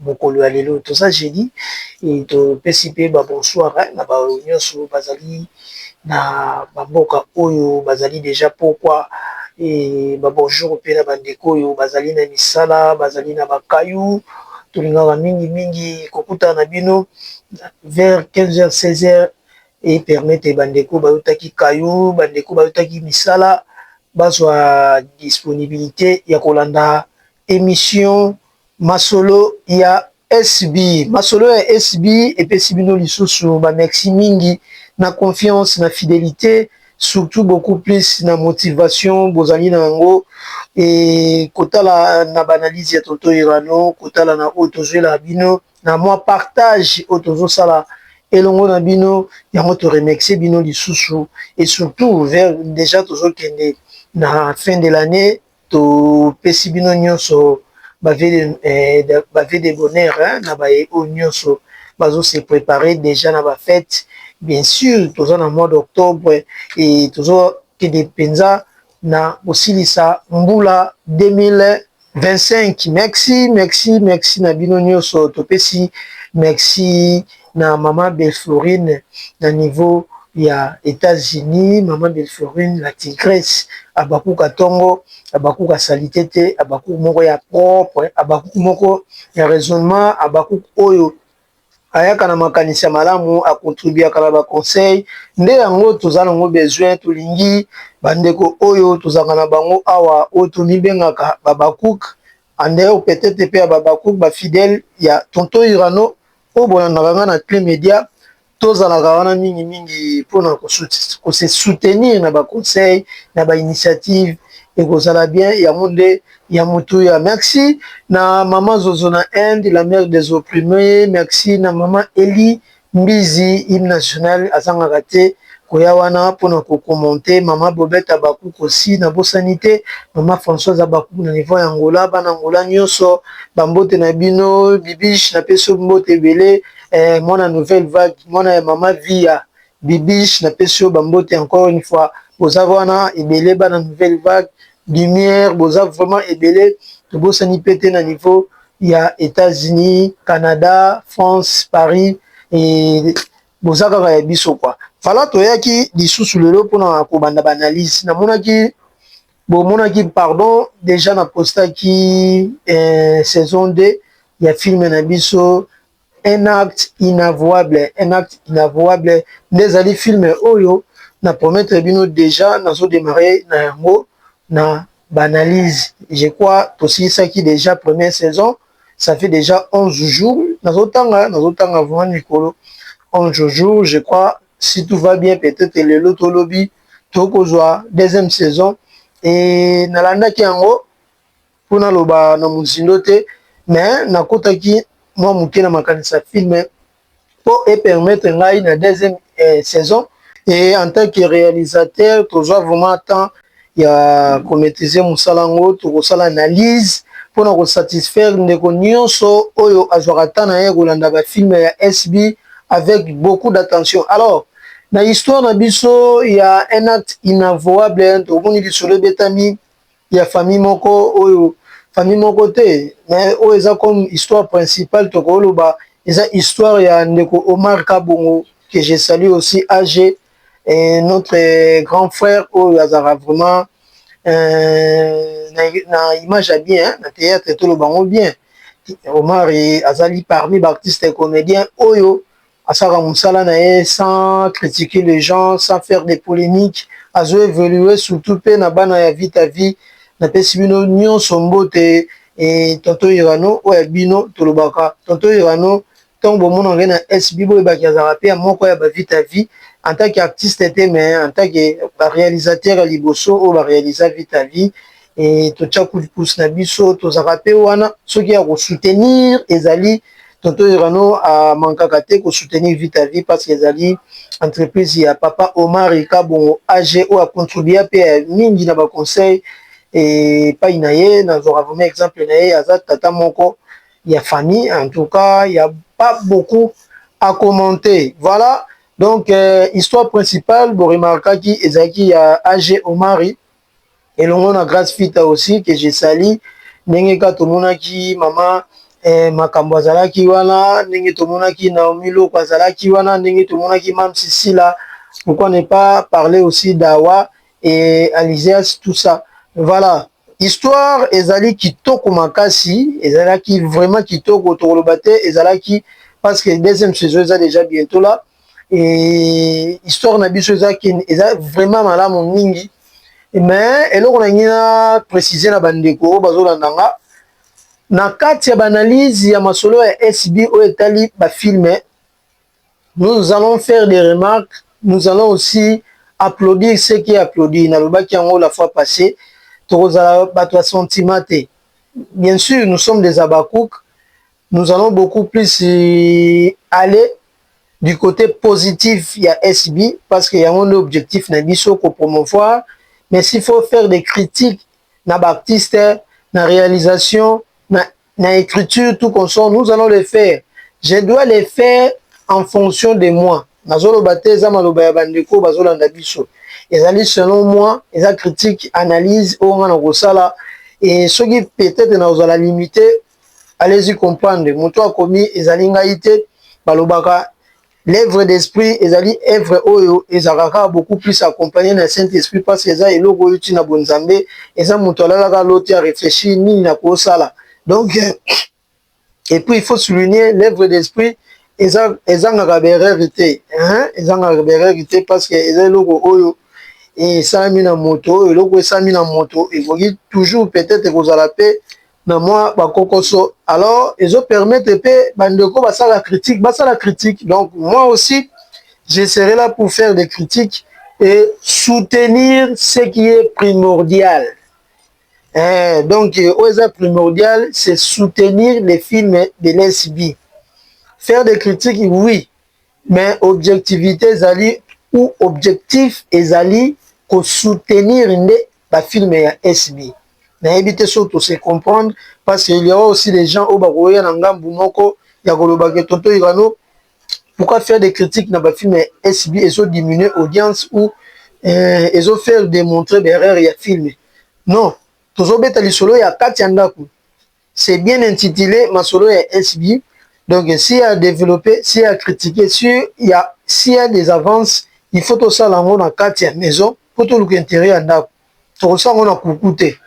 Mokolo ya lelo toza jeudi et to pesi pe ba bonsoir na ba oyo nionso ba zali na ba mboka oyo ba zali dejà pokwa et ba bonjour pe na ba ndeko oyo ba zali na misala, ba zali na ba cailloux. To lingaka mingi mingi ko kutana na bino vers 15 heures, 16 heures e permettre ba ndeko ba utaki cailloux, ba ndeko ba utaki misala ba zwa disponibilite ya ko landa emission. Masolo ya SB. Masolo ya SB epesi bino lisusu ba merci mingi na confiance, na fidelite, surtout beaucoup plus na motivation bozali na yango et kotala na ba analyse ya tonton Irano, kotala na oyo tozuelaka bino, na mua partage oyo tozosala elongo na bino, yango to remercier bino lisusu et surtout vers dejà tozokende na fin de l'annee, To pesi bino nionso ba vue de bonheur na baye oyo nionso bazo se preparer dejà na ba fetes bien sur toza na mois d'octobre et tozo kende penza na ko silisa mbula 2025. Merci merci merci na bino nionso to pesi merci. na maman belflorine na niveau ya etats unis maman belflorine la tigresse habacuc atongo habacuc a salite te habacuc moko ya propre habacuc moko ya raisonnement habacuc oyo ayaka na makanisi ya malamu a contribuaka na ba conseil nde yango toza nango besoin tolingi bandeko oyo tozalaka na bango awa oyo tomibengaka ba habacuc Andeo Petete pe Hababacouk ba fidèle ya Tonton Urano oyo bolandaka nga na Cle Media tozalaka wana mingi mingi pona ko se soutenir na ba conseil na ba initiative ekozala bien yango nde ya motuya merci na maman Zozo na Inde la mère des opprime merci na maman Elly Mbizi hymne national azangaka te koya wana pona ko commente maman bobette habacuc aussi na bosani te maman Françoise habacuc na niveau ya Angola bana Angola nioso ba mbote na bino bibiche na pesi yo mbote ebele eh mwana nouvelle vague mwana ya maman viya bibiche na pesi yo ba mbote encore une fois boza wana ebele bana nouvelle vague Lumière boza vraiment ebele tobosani pe te na niveau ya etats unis, canada, france, paris et boza kaka ya biso quoi voilà toyaki lisusu lelo pona kobanda ba analyse namonaki bomonaki pardon dejà na postaki eh, saison 2 ya film na biso un acte inavouable un acte inavouable nde ezali film oyo na promettre bino dejà nazo demarrer na yango na ba analyse je crois tosilisaki dejà première saison ça fait dejà 11 jours nazo tanga nazo tanga vraiment mikolo 11 jours je crois si tout va bien peut-être lelo to lobi tokozwa deuxième saison et nalandaki yango mpo naloba na mozindo te mais nakotaki mwa moke na makanisi ya film mpo e permettre ngai na deuxième eh, saison et en tant que réalisateur tozwa vraiment temps ya komaîtriser mosala yango tokosala analyse mpo na kosatisfaire ndeko nyonso oyo azwaka temps na ye kolanda bafilme ya sb avec beaucoup d'attention alors na histoire na biso ya un acte inavouable tokomoni lisolo ebetami ya famille moko oyo famille moko te mais oyo eza comme histoire principale tokoloba eza histoire ya ndeko Omar Kabongo que je salue aussi AG et notre euh, grand frère oyo azalaka vraiment euh, na, na image ya bien hein, na théâtre toloba yango bien Omar azali parmi baartiste comédien oyo Asalaka musala na ye sans critiquer les gens, sans faire des polemiques, azo evoluer surtout pe na bana ya Vita Vie, na pesi bino nionso mbote et tonton Irano oyo ya bino tolobaka tonton Irano tango bo monaka ye na SB bo yebake azalaka pe ya moko ya ba Vita Vie en tant que artiste te mais en tant que ba realisateur ya liboso oyo ba realisa Vita Vie e, totya coup de pouce na biso tozaka mpe wana soki ya kosoutenir ezali tonto irano amankaka te kosoutenir vita vie parce que ezali entreprise ya papa omari kabongo age oyo acontribua mpe ya mingi na baconseil epai na ye nazwaka vraimen exemple na ye aza tata moko ya famille en tout cas ya pas beaucoup à commenter voilà donc euh, histoire principale boremarkaki ezalaki ya age omari elongo na Grace Fita aussi que je salue ndenge ka tomonaki mama eh, makambo azalaki wana ndenge tomonaki Naomi Loko azalaki wana ndenge tomonaki Mam Sisila pourquoi ne pas parler aussi d'Awa et Alizias tout ça voilà histoire ezali kitoko makasi ezalaki vraiment kitoko tokoloba te ezalaki parce que deuxième saison eza déjà bientôt là et histoire na biso eza ken eza vraiment malamu mingi mais eloko na ngi na préciser na bandeko oyo bazolanda nga na kati ya baanalyse ya masolo ya sb oyo etali bafilme nous allons faire des remarques nous allons aussi applaudir ce qui applaudi nalobaki yango la fois passé tokozala bato ya sentiment te bien sûr nous sommes des abakouk Nous allons beaucoup plus aller du cote positif ya SB parce que yango nde objectif na biso ko promouvoir mais s'il faut faire des critiques na ba artistes na realisation na, na ecriture tout comme ça nous allons le faire je dois le faire en fonction de moi nazoloba te eza maloba ya bandeko bazolanda biso ezali selon moi eza critique analyse oyo nga nakosala et soki peut-être nakozala limite allez-y comprendre moto akomi ezali ngai te balobaka l'œuvre d'esprit ezali œuvre oyo ezalaka kaka beaucoup plus accompagné na saint esprit parce que eza eloko oyo euti na bonzambe eza moto alalaka loti a réfléchir nini na kosala donc et puis il faut souligner l'œuvre d'esprit ezangaka berreur te ezangaka berreur te parce que eza eloko oyo esalami na moto oyo eloko esalami na moto ekoki toujours peut-être ekozala mpe na mwa ba kokoso alors ezo permettre pe ba ndeko ba sala critique ba sala critique donc moi aussi je serai là pour faire des critiques et soutenir ce qui est primordial eh, donc oyo eza primordial c'est soutenir les films de l'SB faire des critiques oui mais objectivité ezali ou objectif ezali ko soutenir nde ba films ya SB. Nayebi te soki to se comprendre parce qu'il ya aussi des gens oyo bakoya na ngambu moko ya koloba que Tonton Irano pourquoi faire des critiques na ba films ya SB ezo diminuer audience ou eh, ezo faire demontrer ba erreurs ya film. Non, tozobeta lisolo ya kati ya ndaku. C'est bien intitule masolo ya SB donc si a developper si a critiquer sur ya si ya des avances il faut tosala yango na kati ya maison po toluka interieur ya ndaku tokosala yango na kuku te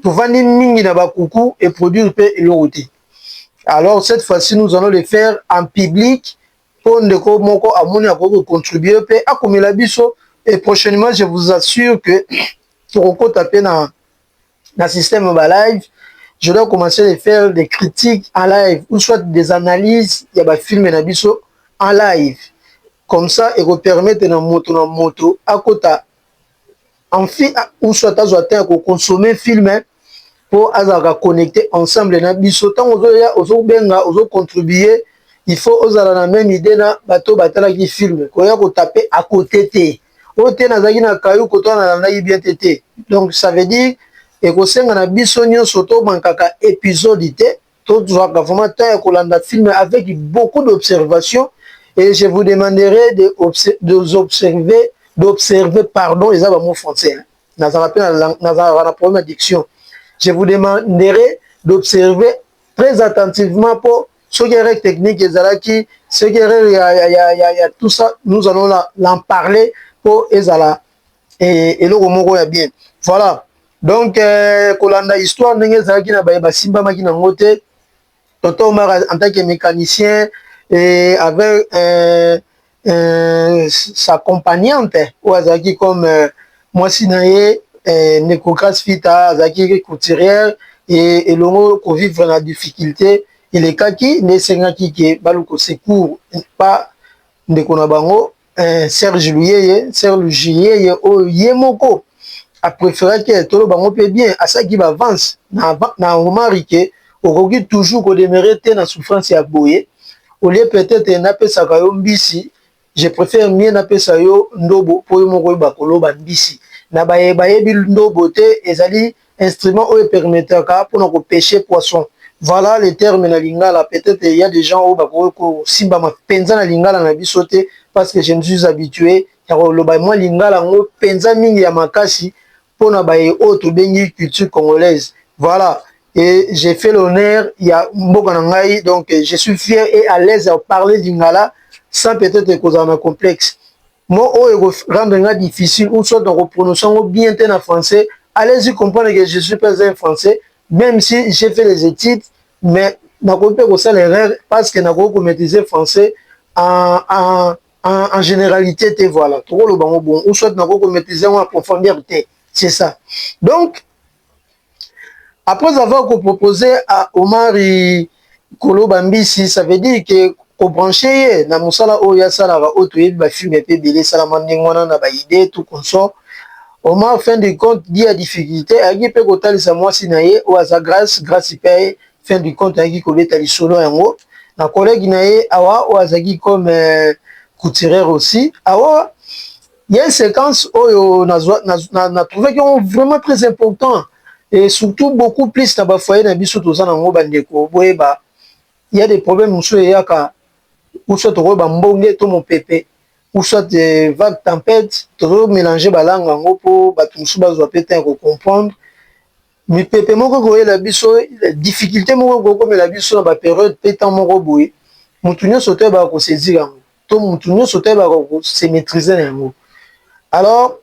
tovandi mingi na ba kuku et produire pe eloko te alors cette fois ci nous allons le faire en public po ndeko moko amoni akoki ko contribuer pe akomela biso et prochainement je vous assure que tokokota pe na na système ba live je dois commencer de faire des critiques en live ou soit des analyses ya ba films na biso en live comme ça et vous permettre na moto na moto akota en fi ou soit azwa temps ya ko consommer film hein, mpo azalaka connecté ensemble na biso ntango ozoya ozobenga ozocontribue il faut ozala na meme idée na bato batalaki filme koya kotape à côté te oyo te nazalaki na kayu koto wana nalandaki bien te te donc ça veut dire ekosenga na biso nyonso to mankaka episode te tozwaka vraiment temps ya kolanda film avec beaucoup d'observation et je vous demanderai de d'observer d'observer pardon eza ba mots français hein. nazalaka pe na nazalaka na problème addiction je vous demanderai d'observer très attentivement pour soki erreur technique ezalaki soki erreur ya, ya, ya, ya, ya tout ça nous allons la, l'en parler mpo ezala eh, eloko moko ya bien voilà donc eh, kolanda histoire ndenge ezalaki na baye basimbamaki nango te tonton omar en tant que mécanicien eh, avec eh, euh, sa compagnante oyo azalaki comme euh, mwasi na ye euh, ndeko Grace Fita azalaki couturière et elongo ko vivre na difficulté elekaki nde esengaki ke baluka secours pa ndeko na bango euh, Serge Luyeye Serge Luyeye oyo ye moko a préféraki tolo bango mpe bien asaki ba avance na, na Omari ke Okoki toujours ko demeurer te na souffrance ya boye au lieu peut-etre na pesaka yo mbisi je prefère mieux na pesa yo ndobo po yo moko oyeba ko loba mbisi na baye ba yebi ndobo te ezali instrument oyo e permetaka pona ko pecher poisson voilà le terme na lingala peut-etre il ya des gens oyo ba koki ko simbama penza na lingala na biso te parce que je ne suis habitue ya ko loba mua lingala ngo penza mingi ya makasi pona baye oyo tobengi culture congolaise voila et j'ai fait l'honneur ya mboka na ngai donc je suis fier et à l'aise à parler lingala sans peut-être kozala na complexe mo oyo eko rendre nga difficile ou soit na ko prononcer ngo bien te na français allez-y comprendre que je suis pas un français même si j'ai fait les études mais nakoki mpe kosala erreur parce que nakoki komaîtrise français en, en en, en generalité te voilà toko loba ngo bon ou soit nako ko maîtriser ngo en profondeur te c'est ça donc après avoir ko proposer à Omari koloba mbisi ça veut dire que ko brancher ye na musala oyo asalaka oyo toyebi ba film pe bele esalama ndenge wana na ba idée tout consort Omar fin de compte dit à difficulté ayaki pe kotalisa mwasi na ye oyo aza grâce grâce pe fin du compte ayaki kobeta lisolo yango na collègue na ye awa oyo azalaki comme euh, couturière aussi awa il y a une séquence oyo na na, na, na trouvé que vraiment très important et surtout beaucoup plus na ba foyer na biso toza na ngo bandeko boyeba il y a des problèmes mosusu eyaka ou soit okoyo bambonge to mopepe ou soit des vagues tempêtes tozo mélanger balanga yango mpo bato mosusu bazwa mpe temps ya kocomprendre Mipepe moko ekoyela biso, difficulte moko ekokomela biso na ba periode pe temps moko boye, mutu nionso te ayebaka ko saisir yango to mutu nionso te ayebaka ko se maitriser na yango alors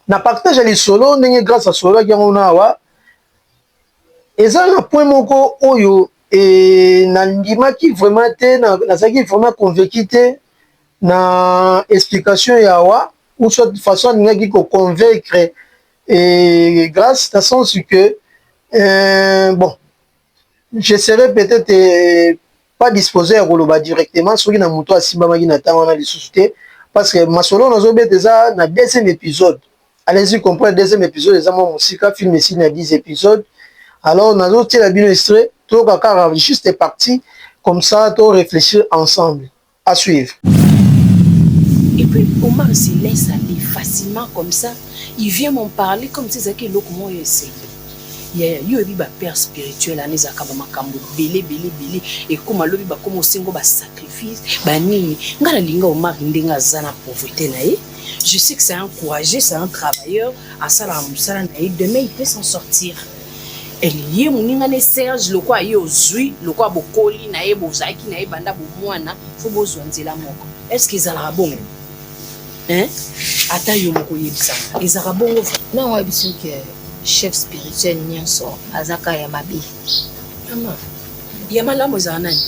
na partage ya lisolo ndenge grace asololaki yango na awa eza na point moko oyo e na ndimaki vraiment te nazalaki vraiment convaincu te na explication ya awa ou soit façon alingaki ko convaincre Et grâce à son que euh, bon, je serais peut-être euh, pas disposé à koloba directement soki na moto asimbamaki na ntango wana lisusu te parce que masolo nazobeta eza na deuxième épisode allez-y comprendre deuxième épisode eza mwa mosika film esili na 10 épisode alors nazotiela bino estre toyoka kaka juste partie comme ça to réfléchir ensemble À suivre. Et puis Omar se laisse aller facilement comme ça, il vient m'en parler comme si ezalaki eloko moko ya esengo. Ya yo oyebi ba père spirituel wana ezalaka ba makambo ebele ebele ebele ekoma lobi bakoma osengo ba sacrifice ba nini. Ngai nalinga Omar ndenge aza na pauvreté na ye. Je sais que c'est un courageux, c'est un travailleur, asalaka mosala na ye, demain il peut s'en sortir. Elie moninga ne Serge lokola ye ozui lokola bokoli na ye bozalaki na ye banda bomwana fo bozwa nzela moko est ce que ezalaka bongo hein ata yo moko oyebisaka ezalaka bongo na wa biso ke chef spirituel nyonso azaka ya mabe mama ya malamu ezala nani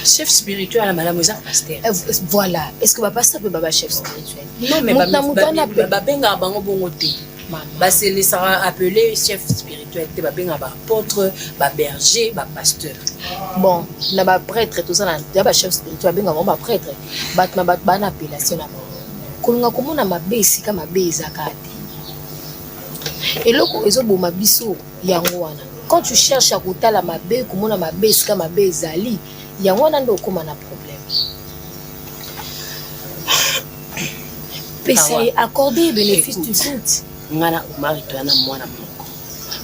chef spirituel ya malamu eza pasteur eh, voilà est ce que bapasteur mpe baba chef spirituel non mais babengaka bango bongo te Ba selesaka appele chef spirituel te, ba bengaka ba apotres, ba bergers, ba pasteurs. Bon, na ba pretres toza na ya ba chef spirituel bengaka bango ba pretres, bato na bato ba na appellation na bango. Kolinga komona mabe esika mabe eza kaka te. Eloko ezo boma biso yango wana. Quand tu cherches ya kotala mabe, komona mabe esika mabe ezali, yango wana nde okoma na problème. pesa ye accorde benefice du doute nga na omari toya na mwana moko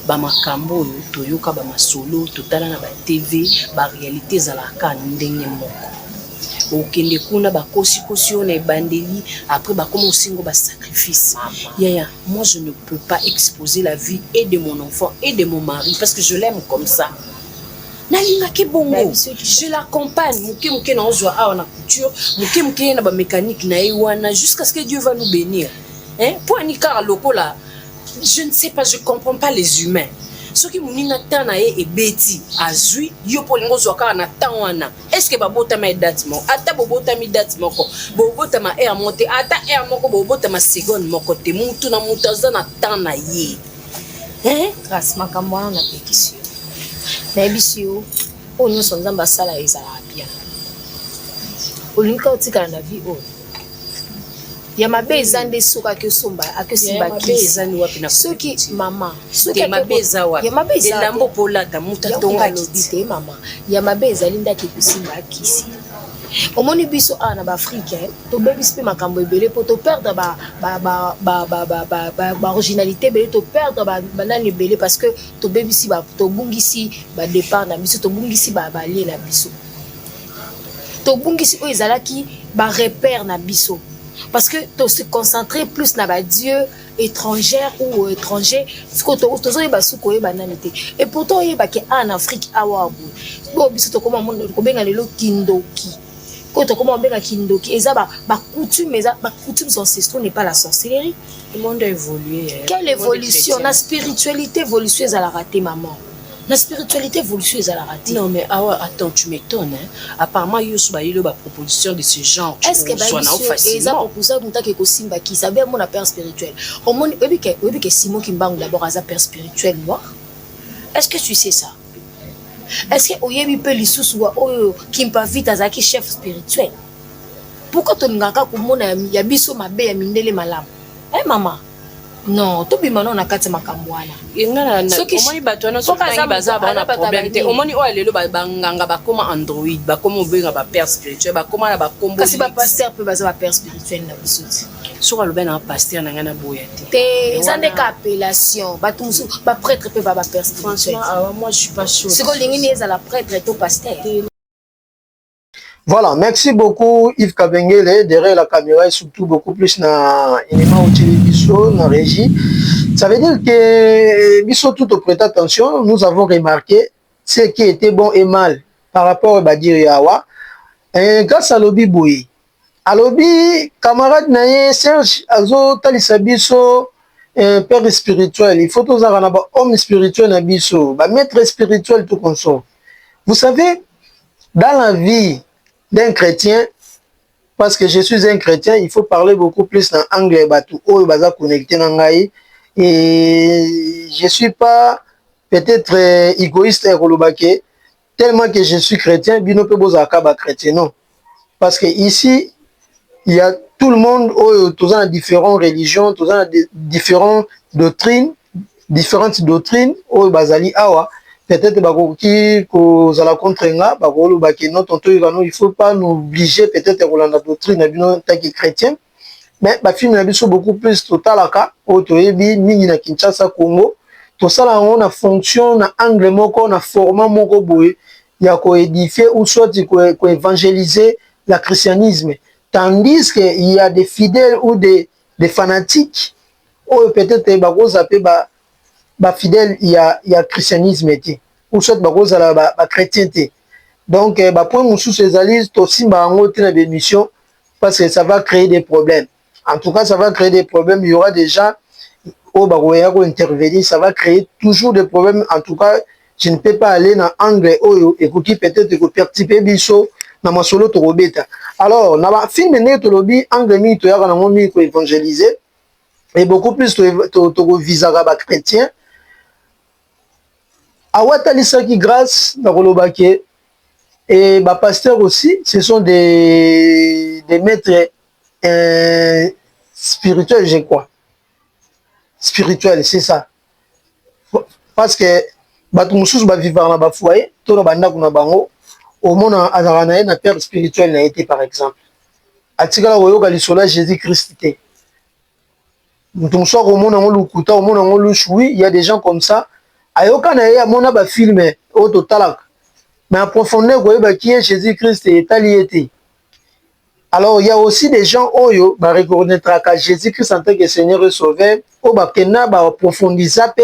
bamakambo oyo toyoka bamasolo totala na batv barealité ezalaka ndenge moko okende kuna bakosikosi yo na ebandeli après bakoma osengo basacrifice yaya moi je ne peux pas exposer la vie et de mon enfant et de mon mari parce que je l'aime comme ça nalingaki bongo je l'accompagne moke moke naozwa awa na couture moke moke ye na bamécanique na ye wana jusqu'à ce que dieu va nous bénir mpo ani kaka lokola je ne sais pas je comprends pas les humains soki moninga temps na ye ebeti azwi yo mpo olingi ozwa kaka na temps wana estce babotama ye date moko ata bobotami date moko bobotama heure moko te ata heure moko bobotama seconde moko te motu na motu aza na temps na ye Eh, grâce makambo wana na pekisi yo. Na yebisi yo oyo nyonso Nzambe asala ezalaka bien. Olingi ka otikala na vie oyo. Ya mabe eza nde soki ake osomba ake osimba kisi. Soki mama, soki mabe eza wapi? Ya mabe eza elambo polata mutu atonga lobi te mama. Ya mabe ezali nde ake kosimba kisi. Omoni biso awa na ba Afrique eh? tobebisi mpe makambo ebele mpo toperdre baoriginalité ebele toperdre banani ebele parce que tobebisi tobungisi badépart na biso tobungisi balie na biso tobungisi oyo ezalaki barepère na biso parce que to se concentrer plus na badieu étrangère ou étranger sikoyo tozoyeba suki koyeba nani te et pourtant oyebake awa na afrique awa boye biso tokoma kobenga lelo kindoki oyo tokoma kobenga kindoki eza ba ba coutume eza ba coutumes ancestraux n'est pas la sorcellerie le monde a évolué eh. quelle évolution na spiritualité évolution ezalaka te maman na spiritualité évolution ezalaka te non mais awa ah attends tu m'étonnes hein? apparemment yo so bayeli ba proposition de ce genre est ce que baeza proposition moto ake kosimba kisa be amona père spirituel omoni oyebi ke simon kimbangu d'abord aza père spirituel noir est ce que tu sais ça Est ce que oyebi pe lisusu wa oyo Kimpa Vita azalaki chef spirituel? Pourquoi tolingaka komona ya biso mabe ya mindele malamu? Eh mama, non tobima nao na kati makambo wana omoni bato wana soki baza bana problème te omoni oyo lelo banganga bakoma android bakoma obenga ba père spirituel bakoma na bakombokasi ba pasteur mpe baza ba père spirituel na biso ti soki alobi na pasteur na ngai naboya te te eza nde ka appellation bato mosusu baprêtre mpe baba personnalisiko olingi nde ezala prêtre to pasteur Voilà, merci beaucoup Yves Kabengele, derrière la caméra et surtout beaucoup plus na Inema Otili Bisso, na régie. Ça veut dire que Bisso, tout au prêt attention, nous avons remarqué ce qui était bon et mal par rapport à Badir Yawa. Et grâce à Lobby Boye, Alobi camarade na ye serge azo talisa biso eh, père spirituel il faut tozalaka na ba homme spirituel na biso ba maître spirituel tout consort vous savez dans la vie d'un chrétien parce que je suis un chrétien il faut parler beaucoup plus na angle ya bato oyo baza connecté na ngai et je suis pas peut-être euh, égoïste ya koloba ke tellement que je suis chrétien bino pe bozala ka ba chrétien non parce que ici il y a tout le monde oyo toza na différents religions toza na différents doctrines différentes doctrines oyo bazali awa peut-être bakoki kozala contre nga bakoloba ke non tonto yebano il faut pas nous obliger peut-être kolanda doctrine na bino ntaki chrétien mais ba film na biso beaucoup plus totalaka oyo toyebi mingi na Kinshasa Congo tosala yango na fonction na angle moko na format moko boye ya ko édifier ou soit ko évangéliser la christianisme tandis que il y a des fidèles ou des des fanatiques oyo peut-être bakoza pe ba ba fidèles ya ya christianisme te ou soit bakozala ba, ba chrétien te donc eh, ba point mosusu ezali tosimba yango te na ba émission parce que ça va créer des problèmes en tout cas ça va créer des problèmes il y aura des gens au bakoya ko intervenir ça va créer toujours des problèmes en tout cas je ne peux pas aller dans angle oyo et qui peut-être ko perturber biso na masolo to kobeta alors na ba film ne to lobi angle mingi to yaka na ngo mingi ko évangéliser et beaucoup plus to to ko visaka ba chrétiens Awatalisaki grace na koloba ke et ba pasteurs aussi ce sont des des maitres eh, spirituels je crois spirituel c'est ça parce que bato mosusu ba vivaka na ba foyer to na bandako na bango omona azalaka na ye na père spirituel na ye te par exemple atikala koyoka lisolo ya jésus christ te mutu mosusu akomona yango lokuta akomona yango lushu oui il y a des gens comme ça ayoka na ye amona ba film oyo totalaka mais en profondeur koyeba qui est Jésus Christ etali ye te alors il y a aussi des gens oyo ba reconnaîtraka Jésus Christ en tant que Seigneur et Sauveur oyo bakenda ba approfondisa pe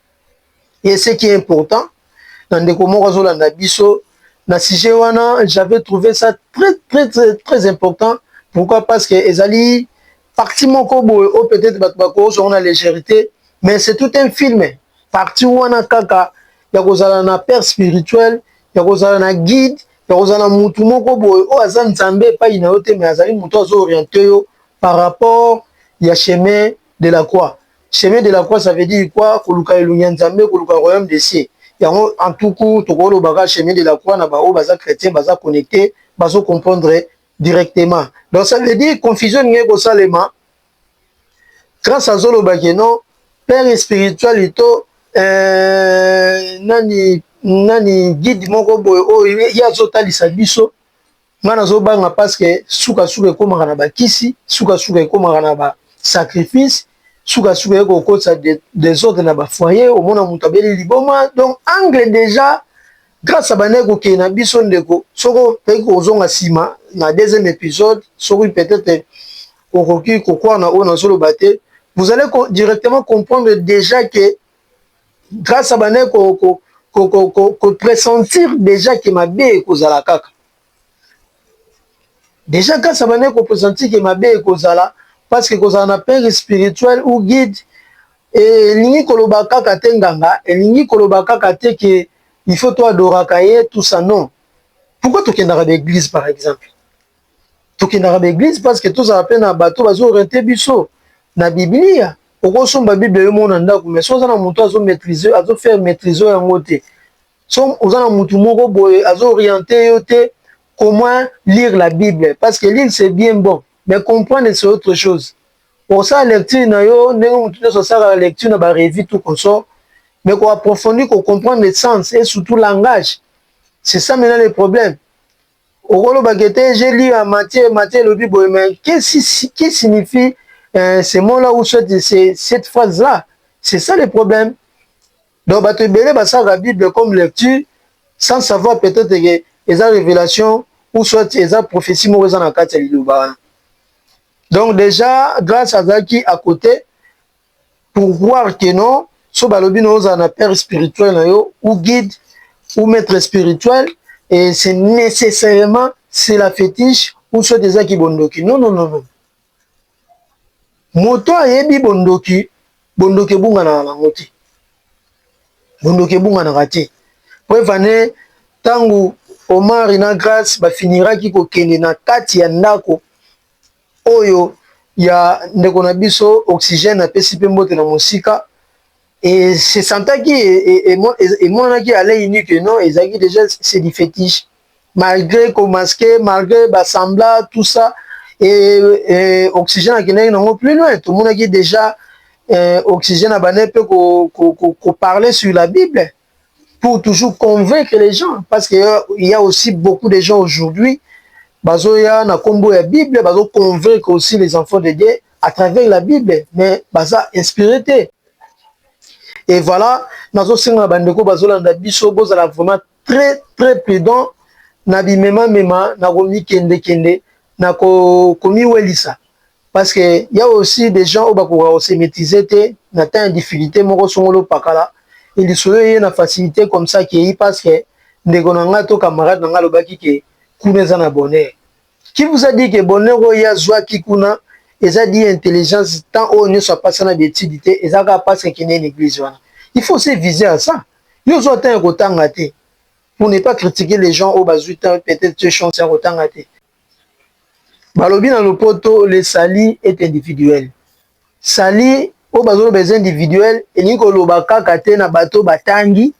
Et ce qui est important, na ndeko moko azolanda biso na sujet wana, j'avais trouvé ça très très très très important. Pourquoi? Parce que ezali partie moko boye oyo peut-être bato bakozwa na légèreté, mais c'est tout un film. Partie wana kaka ya kozala na père spirituel, ya kozala na guide, ya kozala mutu moko boye oyo aza Nzambe epai na yo te, mais azali mutu azo orienter yo par rapport ya chemin de la croix. Chemin de la croix ça veut dire quoi? Koluka elongi ya Nzambe, koluka royaume des cieux. Yango en tout court tokoloba kaka chemin de la croix na ba oyo baza chretien baza connecte bazo comprendre directement. Donc ça veut dire confusion elingi kosalema grâce azoloba ke non père spirituel to euh, nani nani guide moko boye oyo ye azotalisa biso Nga nazobanga parce que suka suka ekomaka na bakisi, suka suka ekomaka na ba sacrifice, suka suka eko okotisa desordre na ba foyer, omona mutu abeli liboma. Donc angle deja grâce à bande kokende na biso ndeko, soki okoki kozonga sima na deuxième episode, soki peut-être okoki kokwana oyo nazoloba te, vous allez directement comprendre deja que grâce abandaki ko, ko, ko, ko, ko, ko pressentir déjà ke mabe ekozala kaka déjà grâce abandaki ko pressentir ke mabe ekozala parce que kozala na père spirituel ou guide elingi koloba kaka te nganga elingi koloba kaka te ke il faut to adoraka ye tout ça non pourquoi tokendaka na église par exemple tokendaka ba eglise parce que tozala pe na bato bazo orienter biso na biblia okosomba bible yo mona ndako mais soki oza na moto azo maîtrise azo faire maîtrise oyo yango te so oza na motu moko boye azo orienter yo te au moins lire la bible parce que lire c'est bien bon mais comprendre c'est autre chose okosala lecture na yo ndenge motu nyonso asalaka lecture na barevue tout consort mais koapprofondir kocomprendre le sens et surtout langage c'est ça maintenant le problème Okoloba que te j'ai lu en Matthieu, Matthieu elobi boye mais qu'est-ce qui signifie euh, ce mot là ou soit cette phrase là? C'est ça le problème. Donc bato ebele basalaka Bible comme lecture sans savoir peut-être que eza révélation ou soit eza prophétie moko eza na kati ya liloba wana. Donc déjà Grace azalaki à côté pour voir que non so balobi na ozala na père spirituel na yo ou guide ou maître spirituel et c'est nécessairement c'est la fétiche ou soit eza ki bondoki non non non non moto ayebi bondoki bondoki ebunganaka nango te bondoki ebunganaka te po evane ntango omari na grace bafiniraki kokende na kati ya ndako Oyo ya ndeko na biso oxygène apesi pe mbote na mosika et se sentaki emonanaki à l'oeil nu que non ezalaki dejà c'est du fetiche malgre ko masque malgre ba sembla tout ça et oxygène akendaki na yango plus loin tomonaki dejà oxygène abandaki pe ko parler sur la bible. pour toujours convaincre les gens parce que euh, il y a aussi beaucoup de gens aujourd'hui bazoya na kombo ya bible bazo convaincre aussi les enfants de Dieu à travers la bible mais baza inspiré te et voilà nazosenga na bandeko bazolanda biso bozala vraiment très très prudent na bimemamema na komikendekende na komiwelisa Parce que il y a aussi des gens oyo bakoka ko se maîtriser te na temps ya difficulté moko songolo opakala et lisolo eye na facilité comme ça que parce que ndeko na nga to camarade na nga alobaki que kuna eza na bonheur qui vous a dit que bonheur oyo ya zwa ki kuna eza dit intelligence temps oyo nyoso apasa na betide te eza ka parce que kende na église wana il faut se viser à ça yo zwa temps ya kotanga te pour ne pas critiquer les gens oyo bazwi temps peut-être chance ya kotanga te balobi na lopoto le sali est individuel sali oyo bazoloba eza individuel elingi koloba kaka te na bato batangi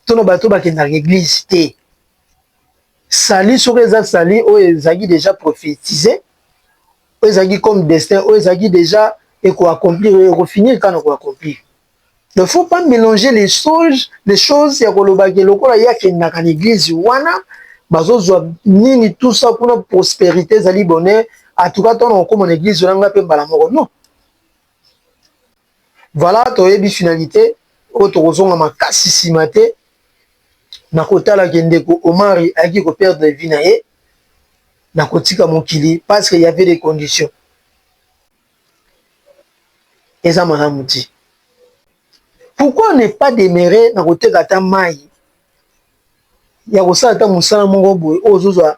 to na bato bakendaka eglise te sali soko eza sali oyo ezalaki deja prophétise oyo ezalaki comme destin oyo ezalaki deja ekoaccomplir ekofinir kaka na koaccomplir Ne faut pas melanger les choses, les choses ya koloba ke lokola ye akendaka na eglise wana bazozwa nini tout ça kuna prosperite ezali bonheur en tout cas tona kokoma na eglise wana nga mpe mbala moko non voilà toyebi finalité oyo tokozonga makasi nsima te na kotala ke ndeko omari ayaki koperdre vie na ye na kotika mokili parce que y avait des conditions eza malamu ti pourquoi ne pas demeure na koteka ata mayi ya kosala ata mosala moko boye oyo ozozwa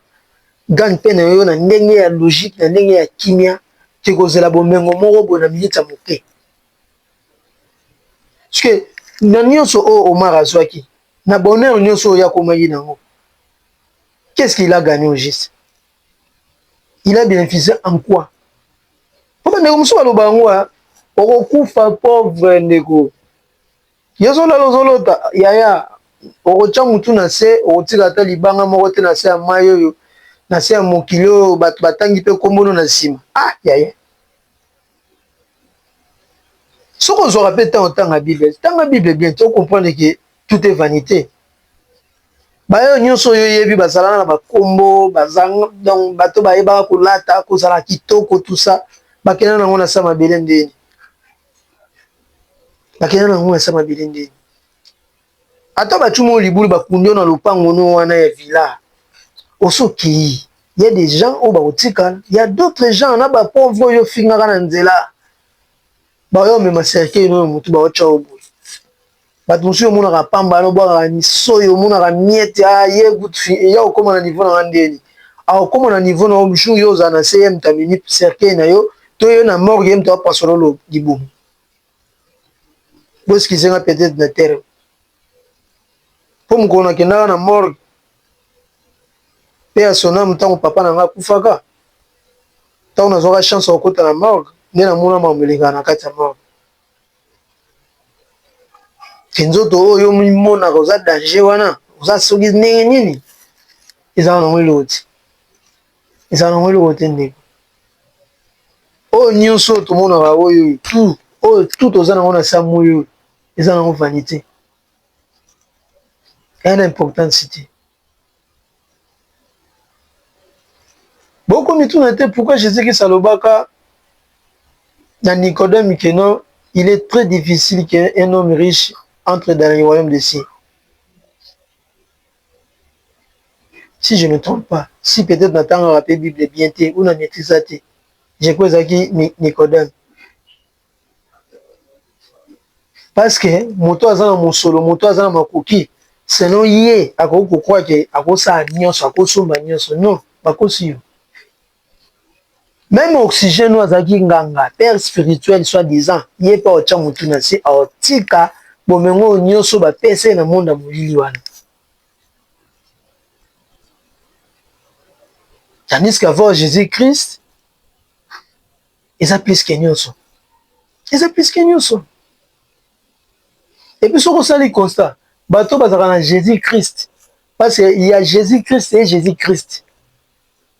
gagne pain na yo na ndenge ya logique na ndenge ya kimia te kozela bomengo moko boye na minute ya moke parceque na nyonso oyo omar azwaki na bonheur nyonso oyo akomaki na yango qu'est ce qu'il a gagne au juste il a bénéficié en quoi po bandeko mosusu baloba yango a okokufa pauvre ndeko yo ozolala ozolota yaya okotya motu na se okotika ata libanga moko te na se ya mai oyo na se ya mokili oyo bato batangi mpe nkombono na nsima ah yaya soki ozwaka mpe ntango otanga bible tanga bible bien to comprendre ke tout est vanité baoyo nyonso oyo oyebi bazalaka na bakombo donc bato bayebaka kolata kozala kitoko tusa bakenda nango na sa mabele ndeni bakenda nango na sa mabele ndeni Ata ba tshuma yo libulu ba kundi yo na lopango no wana ya villa osi okeyi ya des gens oyo bako tikala ya d'autres gens na ba pauvres oyo yo fingaka na nzela ba yo mema cercueil no na mutu ba otia yo boye batu mosusu yo monaka pamba no bwakaka misoyi omonaka miette ah ye gout fi ya okoma na niveau na nga ndeni a okoma na niveau na yo jour yo ozala na se ye mutu amemi cercueil na yo to yo na morgue ye mutu apasola libumu Bo excusez nga peut etre na terme po mokolo na kendaka na morgue paix à son ame tango papa na nga akufaka tango nazwaka chance ya kokota na morgue nde na mona makambo elekaka na kati ya morgue te nzoto oyo omimonaka oza danger wana oza soki ndenge nini eza wana yango eloko te Ezala nango eloko te ndeko. Oyo nioso oyo tomonaka oyo tout oyo tout toza nango na sa moyi oyo eza nango vanite. Eza na importance te. Boko mituna te pourquoi Jesus Christ alobaka na Nicodème que non il est très difficile qu'un homme riche entre dans le royaume des cieux. si je ne me trompe pas si peut etre natangaka pe bible bien te ou na maitrise te je crois ezalaki nicodem parce que moto aza na mosolo moto aza na makoki selon ye akoki kokroire ke akosala nyonso akosomba nyonso non bakosi yo Meme oxygène oyo azalaki nganga père spirituel soit disant ye pe aotya mutu na se aotika bomengo oyo nioso ba pesa ye na monde ya molili wana tandis que avoir Jesus Christ eza plus que nioso eza plus que nioso et puis soki osali constat bato bazalaka na Jesus Christ parce que ya Jesus Christ et Jesus Christ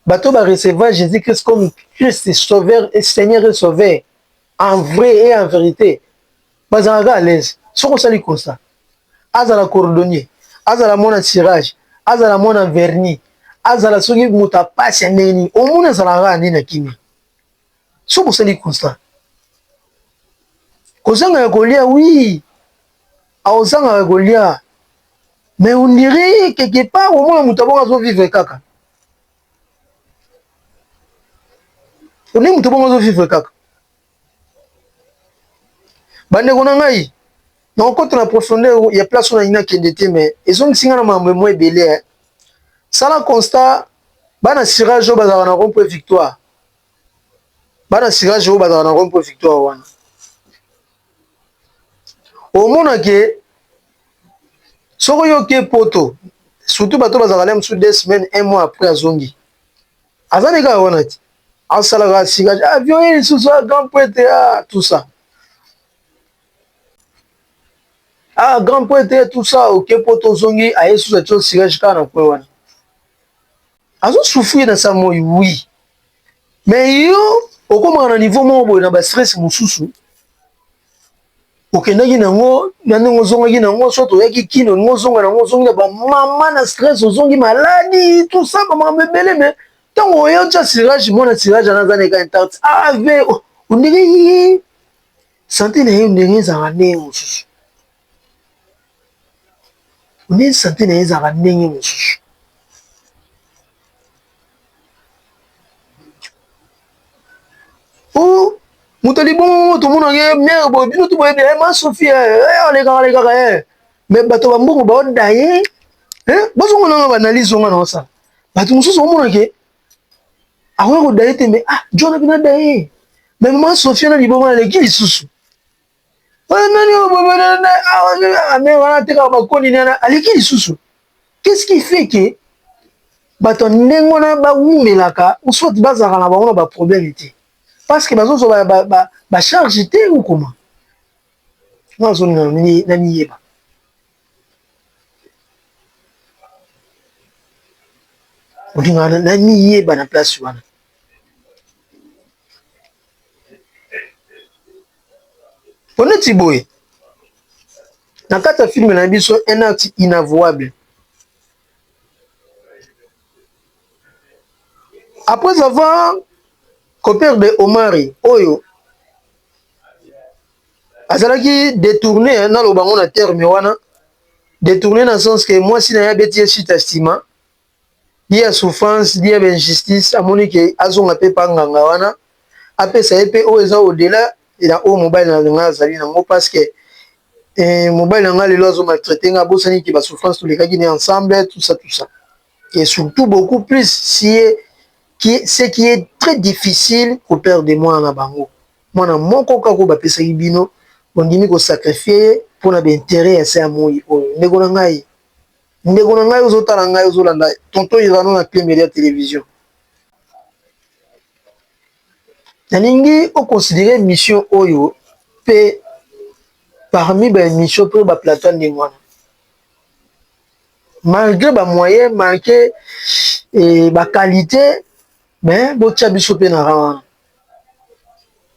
bato ba recevra jesus christ comme christ sauveur et seigneur et sauveur en vrai et en vérité bazalaka à l'aise soki osali constat azala cordonnier azala mwana tirage azala mwana verni azala soki moto apasi ya ndenge nini omoni azalaka kaka nde na kimia soki osali constat kozanga ya kolia wi aozanga ya kolia mais on dirait quelque part omona moto abongo azovivre kaka oni moto bongo azovivre kaka bandeko na ngai nakokota na profondeur ya place oyo nayina kende te mais ezongisi ngai na makambo emwa ebele sala constat bana sirage oyo bazalaka na rond point victoire Bana cirage oyo bazalaka na Rome mpo victoire wana omona ke soki yoke poto surtout bato bazalaka na mosusu deux semaines un mois après azongi aza na kaka wana ti asalaka cirage avion ye lisusu a grand prete a ah, tout ça a ah, grand prete tout ça oke poto ozongi aye susu atio cirage kaka na kwe wana azo souffrir na sa moi oui mais yo okomaka na niveau moko boye na ba stress mosusu okendaki nango na ndenge ozongaki nango soit oyaki kini olingi ozonga nango ozongi na bamama na stress ozongi maladi tout ça bamakambo ebele me ntango oye otya sirage mwana sirage ana aza na eka intarte ave ondenge sante na ye ondenge ezalaka ndenge mosusu Nde sante na ye ezalaka ndenge mosusu. Oh, moto ya libongo tomonaka ye mere boye, bino tu boyebi ye, ma Sophie, eh, alekaka alekaka ye. Mais bato ba mbongo baoda ye, eh, bozongo nanga ba analyse onga na osala. Bato mosusu omona ke akoya koda ye te, mais ah, John abina da ye. Mais ma Sophie na libongo aleki lisusu. Oyo nani oyo bobo na na awa na na mais wana teka ba koni na na aleki lisusu. Qu'est-ce qui fait que bato ndenge wana ba wumelaka ou soit bazalaka na bango na ba problème te? Parce que bazo zwa ba ba ba charge te ou comment? Nga nazo linga na miyeba. Olinga na miyeba na place wana. Poneti boye na kati ya filme na biso un acte inavouable après avoir ko perdre Omari oyo azalaki detourne naloba yango na terme wana detourne na sens que mwasi na ye abeti ye chute ya sima. ye ya souffrance ni ya ba injustice amoni ke azonga pe epa nganga wana apesa ye pe oyo eza au dela ya oyo mobali na ngai azali na yango parce que mobali na ngai lelo azo maltraite ngai abosani ke ba souffrance tolekaki na ye ensemble tout ça tout ça et surtout beaucoup plus si ye ce qui est très difficile au père de mwana na bango mwana moko kaka oyo bapesaki bino bondimi ko sacrifier ye pona ba interet ya se ya moyi oyo ndeko na ngai Ndeko na ngai ozo tala ngai ozo landa tonton Irano na Cle Media Television. Nalingi o considérer mission oyo pe parmi ba emission pe ba plateau ndenge wana. Malgré ba moyens, malgré eh, ba qualités, mais botia biso pe na rang wana.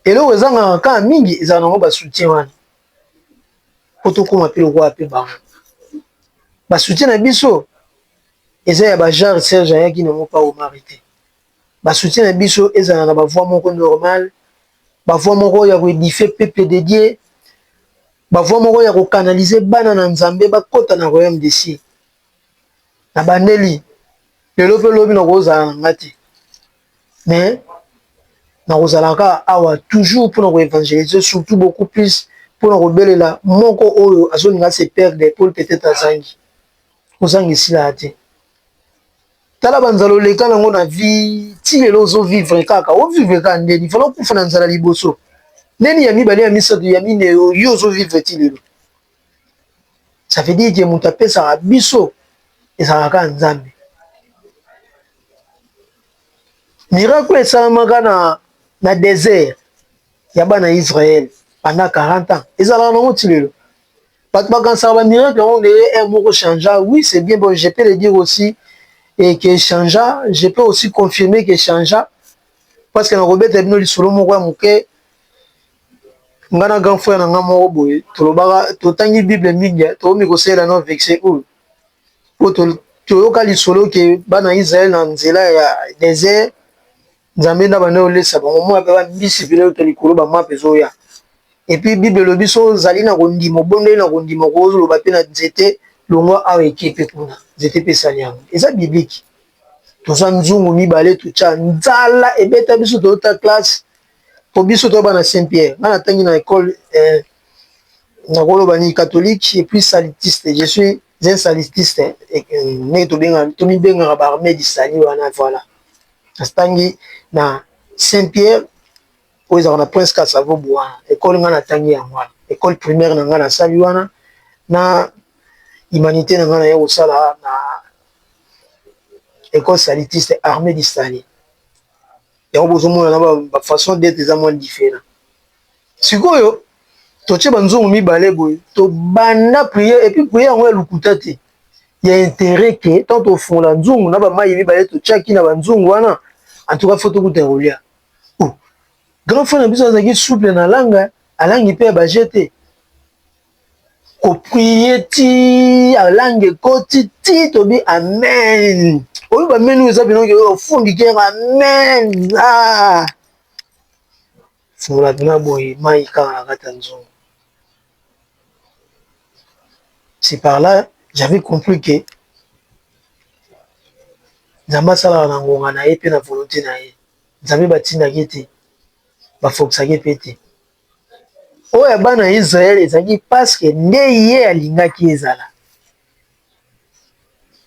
Eloko ezangaka kaka mingi ezala nango ba soutien wana. po tokoma pe lokola pe bango ba soutien na biso eza ya ba genre serge ayaki nango pa omari te ba soutien na biso ezala na ba voix moko normal ba voix moko ya ko edife peuple de Dieu ba voix moko ya ko canalise bana na nzambe bakota na royaume de cieux na bandeli lelo pe lobi nakozala na nga te mais nakozalaka awa toujours mpona ko évangélise surtout beaucoup plus mpona kobelela moko oyo azolinga se perdre po peut-être azangi kozanga esila ya te tala banzala oleka nango na vie ti lelo ozovivre kaka ovivre kaka ndeni fala okufa na nzala liboso ndeni ya mibale ya misato ya mineyo yo ozovivre ti lelo ça veut dire que mutu apesaka biso ezalaka kaka Nzambe. Miracle oyo esalamaka na, na desert ya bana Israël pendant 40 ans ezalaka nango ti lelo. Bato bakanisaka ba miracle yango ndenge un eh, moko changea. Oui, c'est bien bon, je peux le dire aussi et que changea, je peux aussi confirmer que changea parce que nakobeta bino lisolo moko ya moke Nga na grand frère na nga moko boye tolobaka totangi bible mingi tokomi kosalela no vexe oyo po toyoka lisolo ke bana Israel na nzela ya desert Nzambe nde abandaki kolesa bango mwa pe ba mbisi pene uta likolo ba mapa ezoya epuis bible elobi soki ozali na kondima obondeli na kondima kozoloba pe na nzete longwa awa eke pe kuna nzete pe esali yango eza biblique toza nzungu mibale totia nzala ebeta biso toyota classe po biso toza bana saint pierre nga na tangi na ecole eh, nakoloba nini catholique et puis salitiste je suis un salitiste eh, ndenge tobengaka tomibengaka ba armée du salut wana voilà natangi na saint pierre oyo ezalaka na prince kasavo boa ekole ngai natangi yango wana ekole primaire na ngai nasali wana na humanité na ngai naye kosala na ekole salitiste armée du salut yango bozomona na ba façon d'etre eza mwa different sikoyo totie banzungu mibale boye tobanda priere epuis priere yango ya lokuta te ya interet ke ntango tofongola nzungu na bamai mibale totiaki na banzungu wana antuka fo tokuta ya kolia oh, grand frère na biso azalaki souple na langa alangi mpe ya baje te koprie ti alange ekoti ti tobi amen oyo bameni eza bilongi oyo ofundi kera amen ah! fungola mpena boye mai kaka na kati ya nzongo c'est par là j'avais compris que nzambe asalaka na ngonga na ye mpe na volonté na ye nzambe batindaki te bafokisaki mpe te oyo ya bana ya Israele ezalaki paske nde ye alingaki ezala.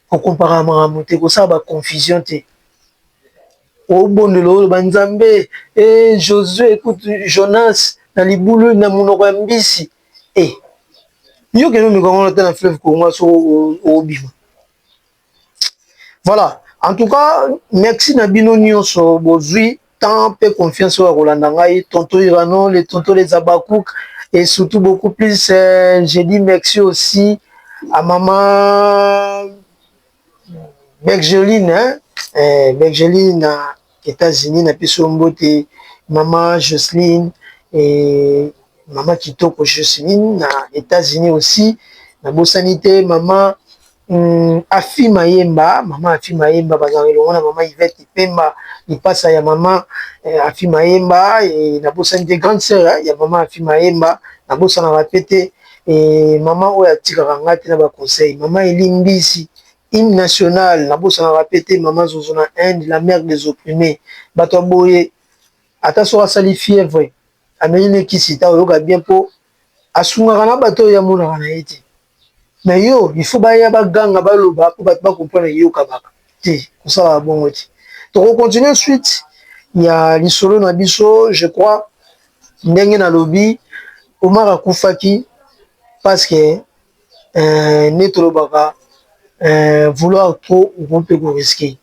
Kokompaka makambo te, kosala ba confusion te. Obondela oloba Nzambe, e Josue kutu Jonas na libulu na monoko ya mbisi. E, yo kende omeka ngo ata na fleuve Congo soki obima. Voilà, en tout cas merci na bino nyonso bozui temps mpe confiance oyo ya kolanda ngai tonto irano le tonto les abakouk et surtout beaucoup plus euh, je dis merci aussi à maman Bergeline hein? eh, Bergeline euh, Etats-Unis na biso mbote mama Jocelyne et mama kitoko Jocelyne na Etats-Unis aussi na bosani te mama Hum, Afi Mayemba, mama Afi Mayemba bazalaka elongo na mama Yvette Ipemba, lipasa ya mama eh, Afi Mayemba eh, nabosani te grande sœur eh, ya mama Afi Mayemba, nabosanaka pe te eh, mama oyo atikaka ngai te na ba conseil, mama Eli Mbisi Hymne national nabosanaka pe te maman zozo na Inde la mère des opprimes batu ya boye ata soki asali fièvre ameli ne kisi ta oyoka bien po asungaka na batu oyo ye amonaka na ye te mais yo il faut baya ba ganga baloba po batu ba comprendre que yo kabaka te kosalaka bongo te toko continuer suite ya lisolo na biso je crois ndenge nalobi Omar akufaki parce que euh, neti olobaka euh, vouloir trop okomi mpe ko risque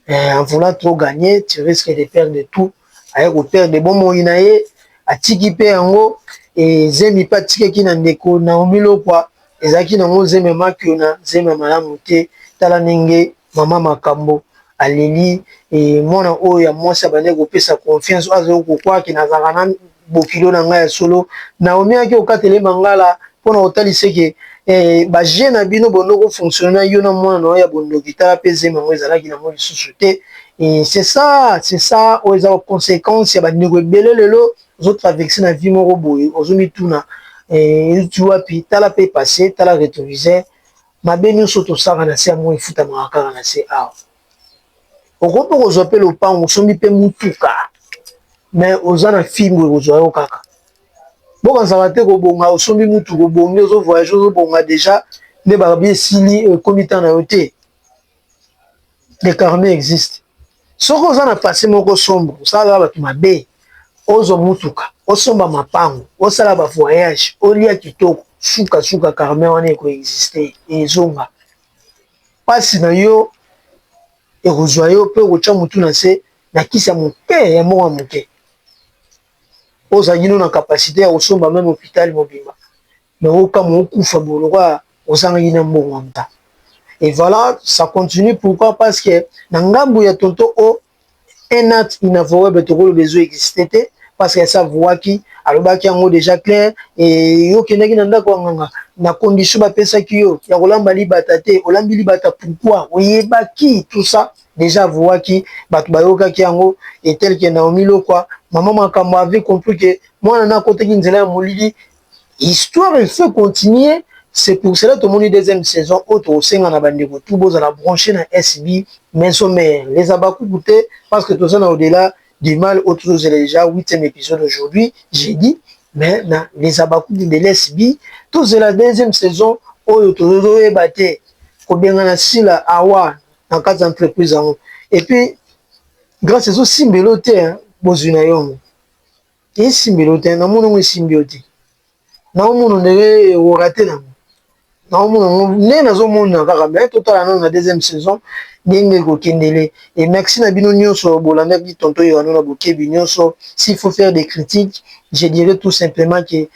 euh, en voulant trop gagner tu risque de perdre tout aye ko perdre bomoi na ye atiki mpe yango ezemi mpe atikaki na ndeko Naomi Lokwa ezalaki nango zemi ya makio na zemi ya malamu te tala ndenge mama makambo aleli e, mwana oyo ya mwasi abandaki kopesa confiance oyo azali kokwaki nazalaka na bokilo na ngai ya solo naomi ayaki kokatela ye mangala mpo na kotalisa eke eh, baje na bino bondo kofonctionne na yo na mwana na yo ya bondoki tala mpe zemi yango ezalaki na yango lisusu te eh, c'est ça c'est ça oyo eza baconséquence ya bandeko ebele lelo ozotraverse na vie moko boye ozomituna eh, euti wapi tala mpe passe tala rétroviseur mabe nyonso tosaka na se ya moi efutamaka kaka na se awa okoki mpe kozwa mpe lopango osombi mpe mutuka me oza na fimbo ekozwa yo kaka bokansaka te kobonga osombi mutuka obongi ozo voyage ozobonga deja nde babi esili ekomi ntan na yo te le carme existe soki oza na pase moko sombre osalaka bato mabe ozwa mutuka osomba mapango osala ba voyage olia kitoko sukasuka carme wana ekoexiste ezonga pasi na yo ekozwa yo pe okotya mutu na se na kisi ya moke ya mbongo moke ozangino na capacite ya kosomba meme hopital mobimba mais okamwa okufa boye lokola ozangaki na mbongo ya mutu et voila ça continue pourquoi parce que na ngambu ya tonton O un acte inavouable tokoloba ezo existe te parce qu'elle s'avouaki alobaki yango dejà claire et yo kendaki na ndako ya nganga na condition bapesaki yo ya kolamba libata te olambi libata pourquoi oyebaki tout ça dejà avouaki bato bayokaki yango et tel que Naomi Lokwa maman makambo avait compris que mwana na akotaki nzela ya molili Histoire il faut continuer c'est pour cela tomoni deuxième saison oyo tokosenga na bandeko tout bozala branche na SB maison mère les habakuku te parce que toza na au delà du mal oyo tozozela dejà huitième episode aujourd'hui jeudi mais na les habakuku de l'SB tozela deuxième saison oyo tozoyeba te kobengana sila awa na kati ya entreprise yango et puis grâce ezosimbelo te bozwi na yongo Esimbi lo te, na mona ngo esimbi yo te, na omona ondire orate nango, na omona ngo nde nazo mona kaka, mais totala nanu na deuxième saison ndenge ekokendele, et merci na bino nionso bolandaki tonton Erano na bokebi nionso, s'il faut faire des critiques, je dirai tout simplement que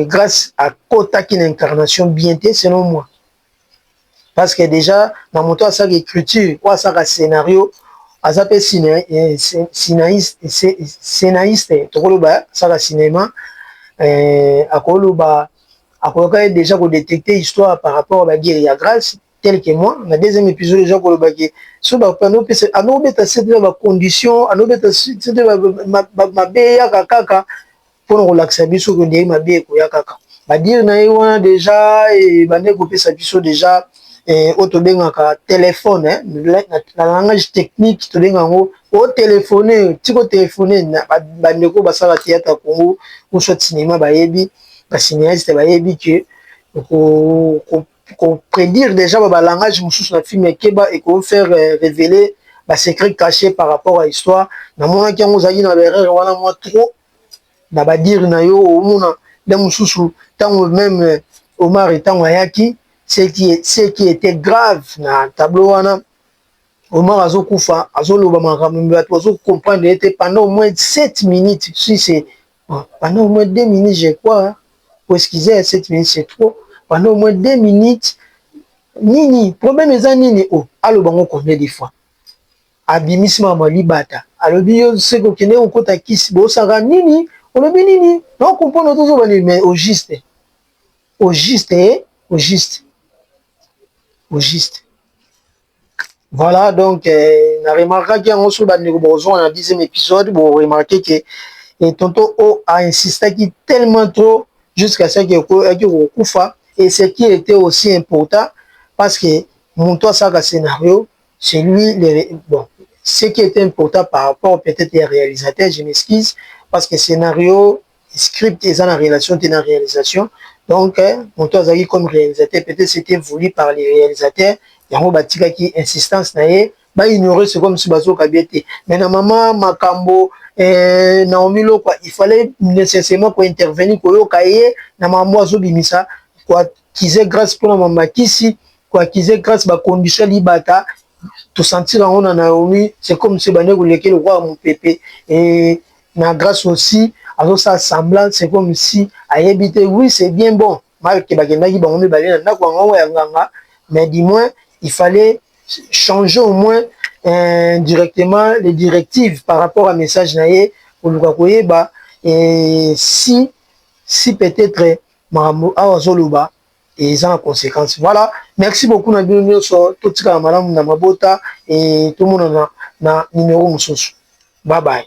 grace akotaki na incarnation bien te selon moi. parce que dejà na moto asaka ecriture oyo asaka scenario aza mpe scenaiste tokoloba asaka cinéma euh, akoloba akoyoka dejà kodetecte histoire par rapport à bagiri ya grace tel que moi na deuxième épisode deja koloba ke so bapanopesa anobeta sete na bacondition anobeta sete mabe eyaka kaka mpo na kolakisa biso que ndenge mabe ekoya kaka. Ba dire na ye wana dejà ebandaki kopesa biso dejà eh, oyo tobengaka telephone eh, na langage technique tobenga yango otelefone, tika otelefone. Bandeko basala theatre ya Congo ou soit cinéma bayebi, ba cinéaste bayebi que ko, ko, ko prédire déjà ba langage mosusu na film ekeba et ko faire eh, révéler ba secret caché par rapport à histoire. Namonaki yango ozalaki na erreur wana mwa trop na ba dire na yo omona nde mususu tango meme Omari tango ayaki ce qui etait grave na tableau wana Omar azokufa azoloba makambo mais bato bazo comprendre ye te pendant au moins 7 minutes si c'est pendant au moins 2 minutes je crois po excusez 7 minutes c'est trop pendant au moins 2 minutes nini problème eza nini o aloba ngo combien de fois Abimisi mama libata alobi yo seke okendeki kokota kisi bosaka nini olobi nini nao comprendre ozo zoba nini mais au juste au juste he au juste au juste voilà donc eh, na remarquaki yango soki bandeko bokozonga na dixième épisode boremarke ke et eh, tonton o a insistaki tellement trop jusqu'à ce que ayaki kokufa et ce qui était aussi important parce que moto asalaka scénario chez lui les bon ce qui est important par rapport peut-être ya realisateur je m'excuse parce que scenario script eza na relation te na realisation donc moto azalaki comme realisateur peut-être c'était voulu par les realisateurs yango batikaki insistance na ye ba ignorer ce comme si bazoka bien te mais na mama makambo eh, Naomi Lokwa il fallait nécessairement ko intervenir koyoka ye na mambo azobimisa kize grace pona ma makisi ko akize grace ba condition libata to sentir yango na Naomi c'est comme si bande koleke lokola mopepe et na grace aussi azosala semblant c'est comme si ayebi te oui c'est bien bon malke bakendaki bango mibale na ndako yango ya nganga mais du moins il fallait changer au moins euh, directement les directives par rapport à message na ye koluka koyeba et si si peut-être makambo awa azoloba eza na consequence voilà merci beaucoup na bino nyonso totikala malamu na mabota e tomonana na numero mosusu babaye